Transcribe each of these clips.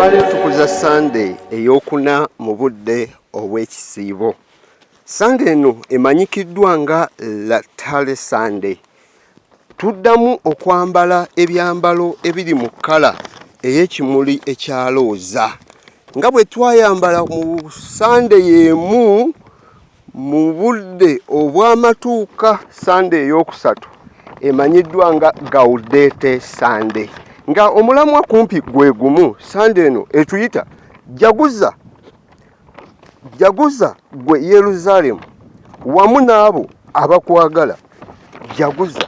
olwaleero tukuza sande eyokuna mu budde obw'ekisiibo sande eno emanyikiddwa nga latale sande tuddamu okwambala ebyambalo ebiri mu kkala ey'ekimuli ekyalooza nga bwe twayambala mu sande y'emu Mu budde obw'amatuuka Ssande ey'okusatu emanyiddwa nga Gaudete Ssande nga omulamwa kumpi gwe gumu, Ssande eno etuyita Jaguza, Jaguza gwe Yeruzaalemu wamu n'abo abakwagala, Jaguza.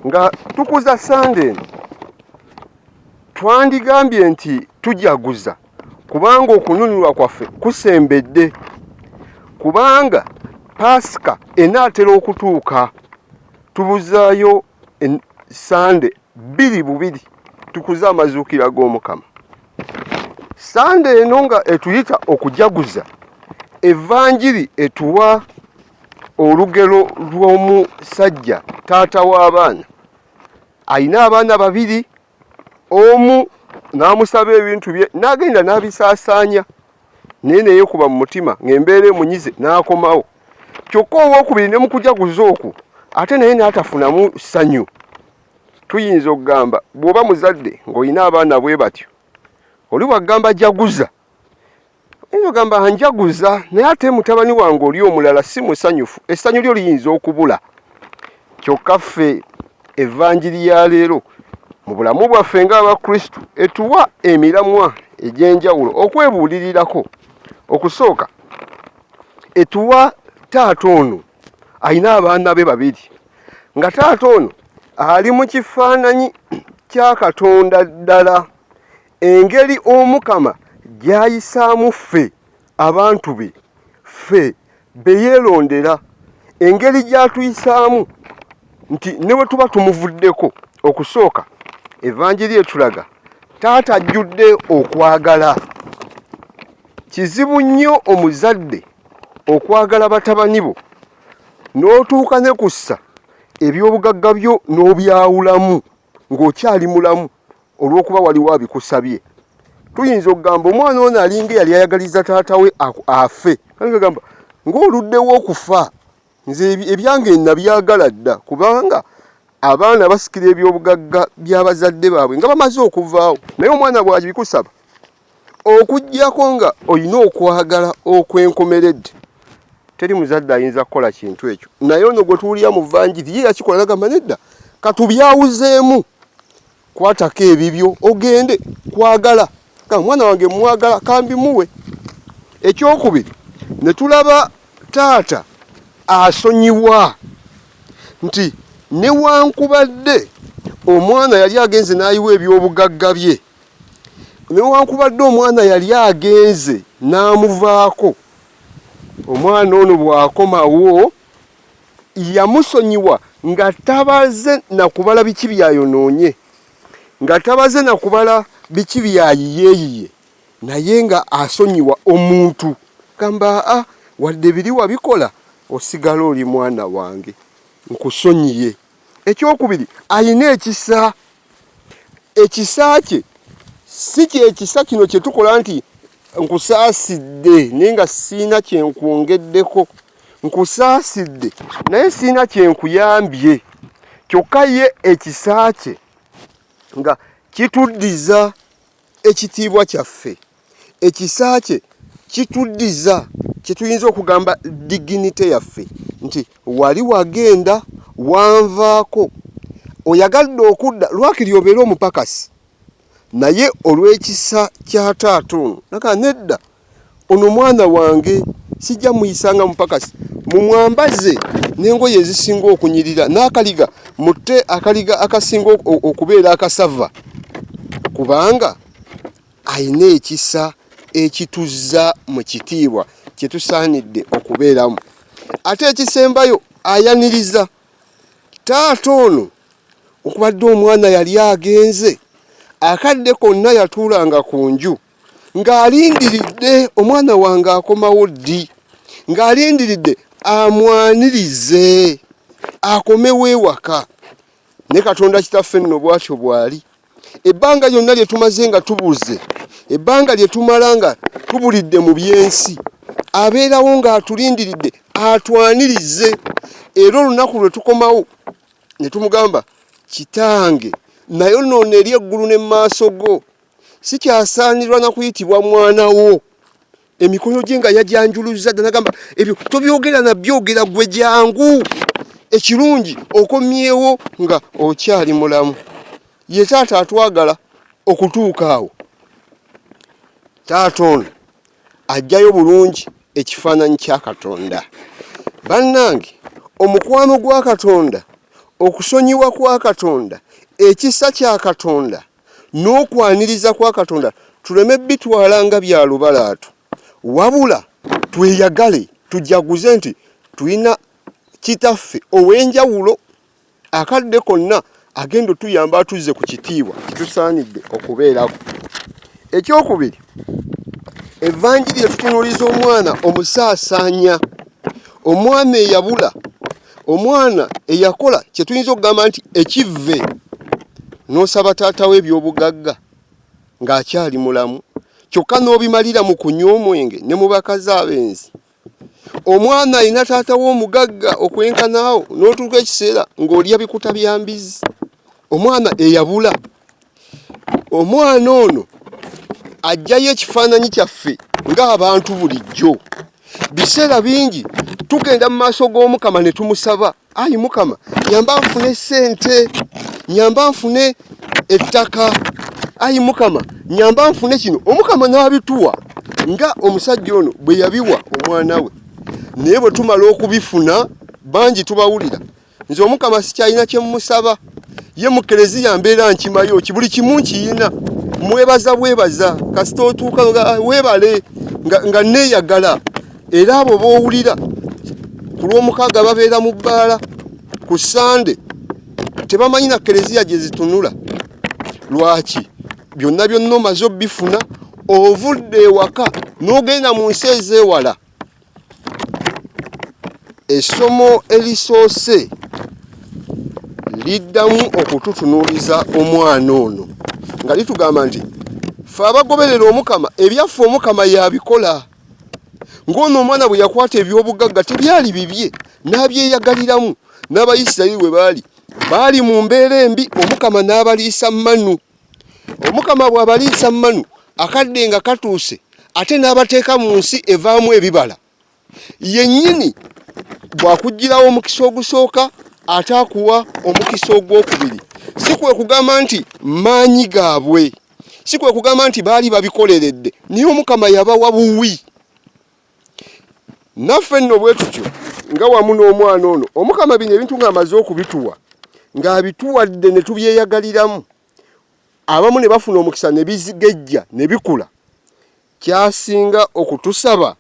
Nga tukuza Ssande eno twandigambye nti tujaguza. kubanga okununulwa kwaffe kusembedde kubanga paasika enaatera okutuuka tubuzaayo sande bbiri bubiri tukuze amazuukira g'omukama sande eno nga etuyita okujaguza evanjiri etuwa olugero lw'omusajja taata w'abaana alina abaana babiri omu n'amusaba ebintu bye n'agenda n'abisaasaanya naye neyekuba mu mutima ng'embeera emunyize n'akomawo kyokka owokubiri ne mukujaguza okwo ate naye n'atafunamu ssanyu tuyinza okugamba bw'oba muzadde ng'olina abaana bwe batyo oli wagamba jaguza Naye ogamba anjaguza naye ate mutabani wange oli omulala si musanyufu, essanyu lyo liyinza okubula. Kyokka ffe evanjiri ya leero mu bulamu bwaffe ng'Abakristu etuwa emiramwa egy'enjawulo okwebuulirirako. Okusooka etuwa taata ono alina abaana be babiri nga taata ono ali mu kifaananyi kya Katonda ddala engeri omukama gyayisaamu ffe abantu be ffe beyeerondera engeri gyatuyisaamu nti ne bwe tuba tumuvuddeko okusooka evanjiri etulaga taata ajjudde okwagala kizibu nnyo omuzadde okwagala batabani bo n'otuuka ne kussa ebyobugagga byo n'obyawulamu ng'okyali mulamu olw'okuba waliwo abikusabye tuyinza okugamba omwana ono alinga eyali ayagaliza taata we afe agamba ng'oluddewo okufa nze ebyange nabyagala dda kubanga abaana basikira ebyobugagga by'abazadde baabwe nga bamaze okuvaawo naye omwana bwabikusaba Okuggyako nga olina okwagala okwenkomeredde, teri muzadde ayinza kukola kintu ekyo. Naye ono gwe tuwulira mu vanjiri ye yakikola, nagamba nedda, katubyawuzeemu, kwatako ebibyo ogende. Kwagala ka mwana wange mwagala, kambimuwe. Ekyokubiri ne tulaba taata asonyiwa nti newankubadde omwana yali agenze n'ayiwa ebyobugagga bye newankubadde omwana yali agenze n'amuvaako omwana ono bw'akomawo yamusonyiwa nga tabaze na kubala biki byayonoonye nga tabaze na kubala biki byayiyeeyiye naye nga asonyiwa omuntu gamba a wadde biri wabikola osigala oli mwana wange nkusonyiye ekyokubiri alina ekisa ekisa kye si kyekisa kino kyetukola nti nkusaasidde naye nga siina kyenkwongeddeko nkusaasidde naye siina kyenkuyambye kyokka ye ekisa kye nga kituddiza Ekitiibwa kyaffe, ekisa kye kituddiza kye tuyinza okugamba diginite yaffe nti wali wagenda wanvaako oyagadde okudda lwakiri obeere omupakasi naye olw'ekisa kya taata ono naga nedda Ono mwana wange sijja muyisa nga mupakasi, mumwambaze n'engoye ezisinga okunyirira n'akaliga mutte akaliga akasinga okubeera akasava kubanga alina ekisa ekituzza mu kitiibwa kye tusaanidde okubeeramu. Ate ekisembayo ayaniriza taata ono okubadde omwana yali agenze akadde konna yatuulanga ku nju. ng'alindiridde omwana wange akomawo ddi ng'alindiridde amwanirize akomewo ewaka ne katonda kitaffe nno bwatyo bwali ebbanga lyonna lye tumaze nga tubuze ebbanga lye tumala nga tubulidde mu by'ensi abeerawo ng'atulindiridde atwanirize era olunaku lwe tukomawo ne tumugamba kitange nayo noono eri eggulu ne mu maaso go sikyasaanirwa na kuyitibwa mwana wo emikono gye nga yagyanjuluzza dda nagamba ebyo tobyogera nabyogera gwe jangu ekirungi okomyewo nga okyali mulamu ye taata atwagala okutuuka awo taata ono ajjayo bulungi ekifaananyi kya katonda bannange omukwano gwa katonda okusonyiwa kwa katonda ekisa kya katonda n'okwaniriza kwa katonda tuleme bitwala nga bya lubalaatu wabula tweyagale tujaguze nti tulina kitaffe ow'enjawulo akadde konna agenda otuyamba atuzze ku kitiibwa kitusaanidde okubeerako ekyokubiri evanjiri etutunuliza omwana omusaasaanya omwana eyabula omwana eyakola kye tuyinza okugamba nti ekivve n'osaba taata we ebyobugagga ng'akyali mulamu kyokka n'obimalira mu kunywa omwenge ne mu bakazi abenzi omwana alina taata we omugagga okwenkanaawo n'otuuka ekiseera ng'olya bikuta bya mbizi omwana eyabula omwana ono ajjayo ekifaananyi kyaffe ng'abantu bulijjo biseera bingi tugenda mu maaso g'omukama ne tumusaba ayi mukama nyamba nfune sente nyamba nfune ettaka ayi mukama nyamba nfune kino omukama n'abituwa nga omusajja ono bwe yabiwa omwana we naye bwe tumala okubifuna bangi tubawulira nze omukama sikyalina kyemusaba ye mu kereziya mbeera nkimayo ki buli kimu nkiyina mwebaza bwebaza kasita otuuka ah, webale nga neyagala era abo bowulira ku lwomukaaga babeera mu bbaala ku sande tebamanyi na kereziya gye zitunula lwaki byonna byonna omaze obifuna ovudde ewaka n'ogenda mu nsi ezeewala Essomo erisoose liddamu okututunuuliza omwana ono nga litugamba nti fe abagoberera omukama ebyaffe omukama yabikola ng'ono omwana bwe yakwata ebyobugagga tebyali bibye n'abyeyagaliramu n'abayisirayiri we baali baali mu mbeera embi omukama n'abaliisa manu Omukama bw'abaliisa manu akadde nga katuuse ate n'abateeka mu nsi evaamu ebibala yennyini bw'akuggyirawo omukisa ogusooka ate akuwa omukisa ogw'okubiri si kwe kugamba nti maanyi gaabwe si kwe kugamba nti baali babikoleredde naye omukama yabawa buwi naffe nno bwe tutyo nga wamu n'omwana ono omukama bino ebintu ng'amaze okubituwa ng'abituwadde ne tubyeyagaliramu abamu ne bafuna omukisa ne bizigejja ne bikula kyasinga okutusaba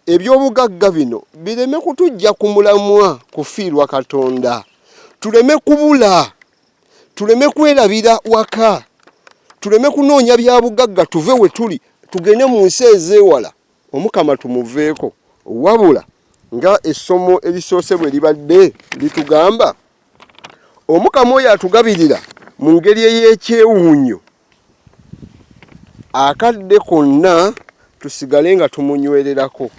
ebyobugagga bino bireme kutujja ku mulamwa kufiirwa katonda tuleme kubula tuleme kwerabira waka tuleme kunoonya bya bugagga tuve we tuli tugende mu nsi ezeewala Omukama tumuveeko wabula nga essomo erisoose bwe libadde litugamba omukama oyo atugabirira mu ngeri ey'ekyewuunyo akadde konna tusigale nga tumunywererako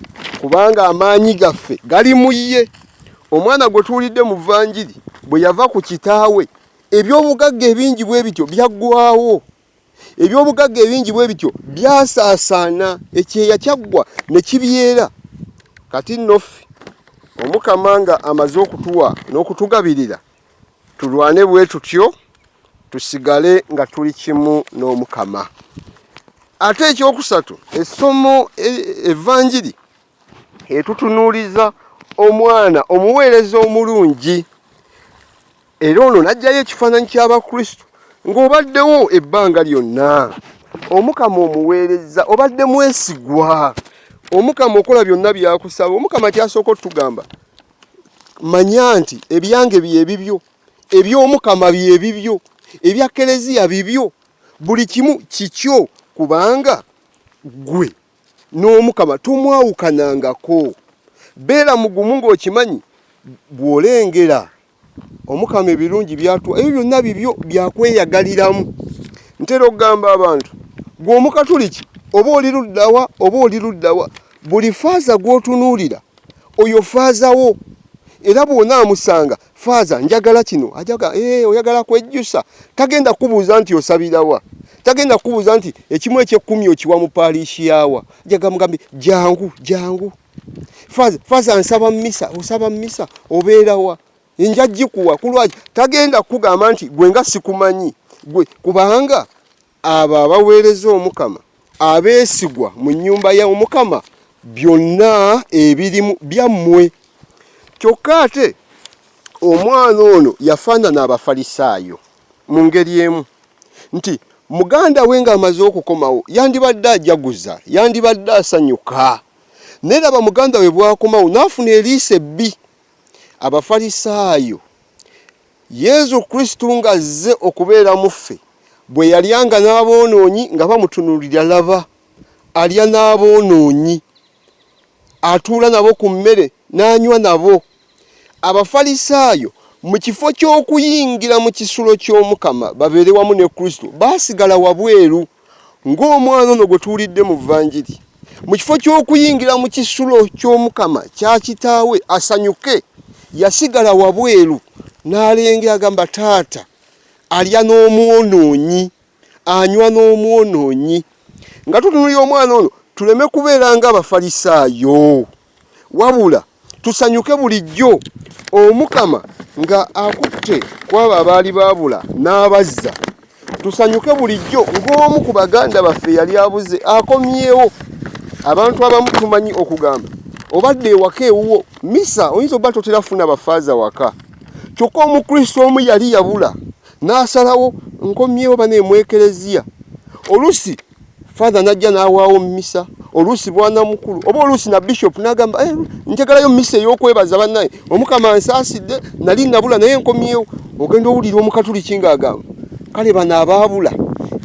kubanga amaanyi gaffe gali mu ye omwana gwe tuwulidde mu vanjiri bwe yava ku kitaawe eby'obugagga ebingi bwe bityo byaggwawo eby'obugagga ebingi bwe bityo byasaasaana ekyeya kyaggwa ne kibyera kati nno ffe omukama nga amaze okutuwa n'okutugabirira tulwane bwe tutyo tusigale nga tuli kimu n'omukama ate ekyokusatu essomo e, evanjiri etutunuuliza omwana omuweereza omulungi era ono n'aggyayo ekifaananyi ky'abakristo ng'obaddewo ebbanga lyonna omukama omuweereza obadde mwesigwa omukama okola byonna byakusaba omukama kyasooka otugamba manya nti ebyange byebibyo eby'omukama byebibyo ebya kereziya bibyo buli kimu kikyo kubanga gwe n'omukama tomwawukanangako beera mugumu ng'okimanyi bw'olengera omukama ebirungi byatuwa ebyo byonna bibyo byakweyagaliramu ntera okugamba abantu gwe omukatuliki oba oli luddawa oba oli luddawa buli faaza gw'otunuulira oyo faazawo era bw'onaamusanga faaza njagala kino ajaga ee eh, oyagala kwejjusa tagenda kubuuza nti osabirawa tagenda kubuuza nti ekimu ekyekkumi okiwa mu paaliishi yaawa jaga mugambi jangu jangu faaza faaza nsaba mumisa osaba mumisa obeerawa nja gikuwa kulwaki tagenda kugamba nti gwe nga sikumanyi gwe kubanga abo abaweereza omukama abeesigwa mu nnyumba ya omukama byonna ebirimu byammwe kyokka ate omwana ono yafaanana abafalisaayo mu ngeri emu nti muganda we ng'amaze okukomawo yandibadde ajaguza yandibadde asanyuka naye laba muganda we bwakomawo n'afuna eriiso ebbi abafalisaayo Yezu Kristu ng'azze okubeera mu ffe, bwe yalyanga n'aboonoonyi nga bamutunuulira, laba, alya n'aboonoonyi, atuula nabo ku mmere n'anywa nabo. Abafalisaayo mu kifo ky'okuyingira mu kisulo ky'Omukama babeere wamu ne Kristu, baasigala wabweru. Ng'omwana ono gwe tuwulidde mu Vanjiri, mu kifo ky'okuyingira mu kisulo ky'Omukama kya kitaawe asanyuke, yasigala wabweru n'alengera agamba, taata alya n'omwonoonyi, anywa n'omwonoonyi. Nga tutunuulira omwana ono, tuleme kubeera ng'Abafalisaayo. wabula tusanyuke bulijjo omukama nga akutte kwabo abaali baabula n'abazza tusanyuke bulijjo ng'omu ku baganda baffe yali abuze akomyewo abantu abamu tumanyi okugamba obadde ewaka ewuwo misa oyinza oba totera funa bafaaza waka kyokka omukristo omu yali yabula n'asalawo nkomyewo baneemwekereziya olusi father najja n'awaawo misa oluusi bwana mukulu oba oluusi na bishop n'agamba eh, njagalayo misa ey'okwebaza bannaye omukama nsaasidde nali nabula naye nkomyewo ogenda owulira omukatuliki ng'agamba kale bano abaabula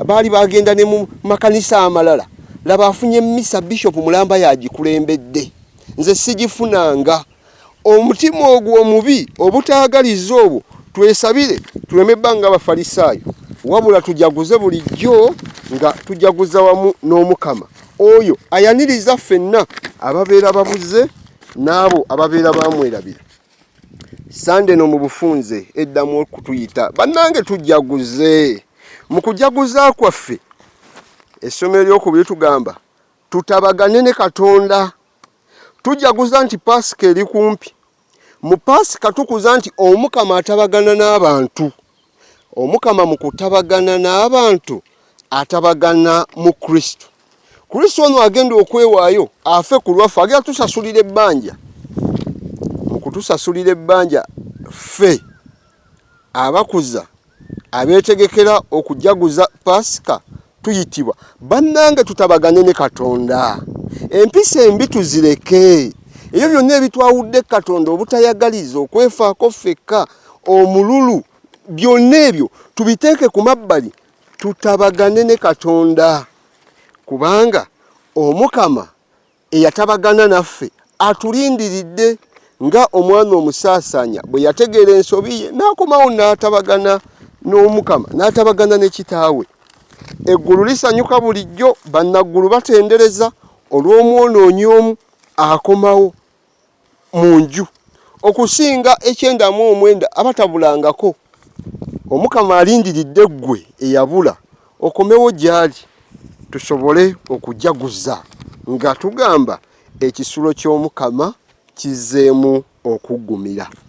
baali bagenda ne mu makanisa amalala laba afunye misa bishop mulamba yagikulembedde nze sigifunanga omutima ogwo omubi obutaagaliza obwo twesabire tuleme bba nga abafalisaayo wabula tujaguze bulijjo nga tujaguza wamu n'omukama oyo ayaniriza ffenna ababeera babuze n'abo ababeera bamwerabira sande no mu bufunze eddamu okutuyita bannange tujaguze mu kujaguza kwaffe essomero ly'okubiri tugamba tutabagane ne katonda Tujaguza nti Paasika eri kumpi. Mu Paasika tukuza nti Omukama atabagana n'abantu. Omukama mu kutabagana n'abantu atabagana mu Kristo. Kristo ono agenda okwewaayo afe ku lwaffe, agenda tusasulira ebbanja. Mu kutusasulira ebbanja ffe abakuza abeetegekera okujaguza paasika tuyitibwa bannange tutabagane ne katonda empisa embi tuzireke ebyo byonna ebitwawudde katonda obutayagaliza okwefaako ffekka omululu byonna ebyo tubiteeke ku mabbali tutabagane ne katonda kubanga omukama eyatabagana naffe atulindiridde nga omwana omusaasanya bwe yategeera ensobi ye n'akomawo n'atabagana n'omukama n'atabagana ne kitaawe eggulu lisanyuka bulijjo bannaggulu batendereza olw'omwonoonyi omu akomawo mu nju okusinga ekyenda mu omwenda abatabulangako omukama alindiridde ggwe eyabula okomewo gyali tusobole okujaguza nga tugamba ekisulo ky'omukama kizzeemu okuggumira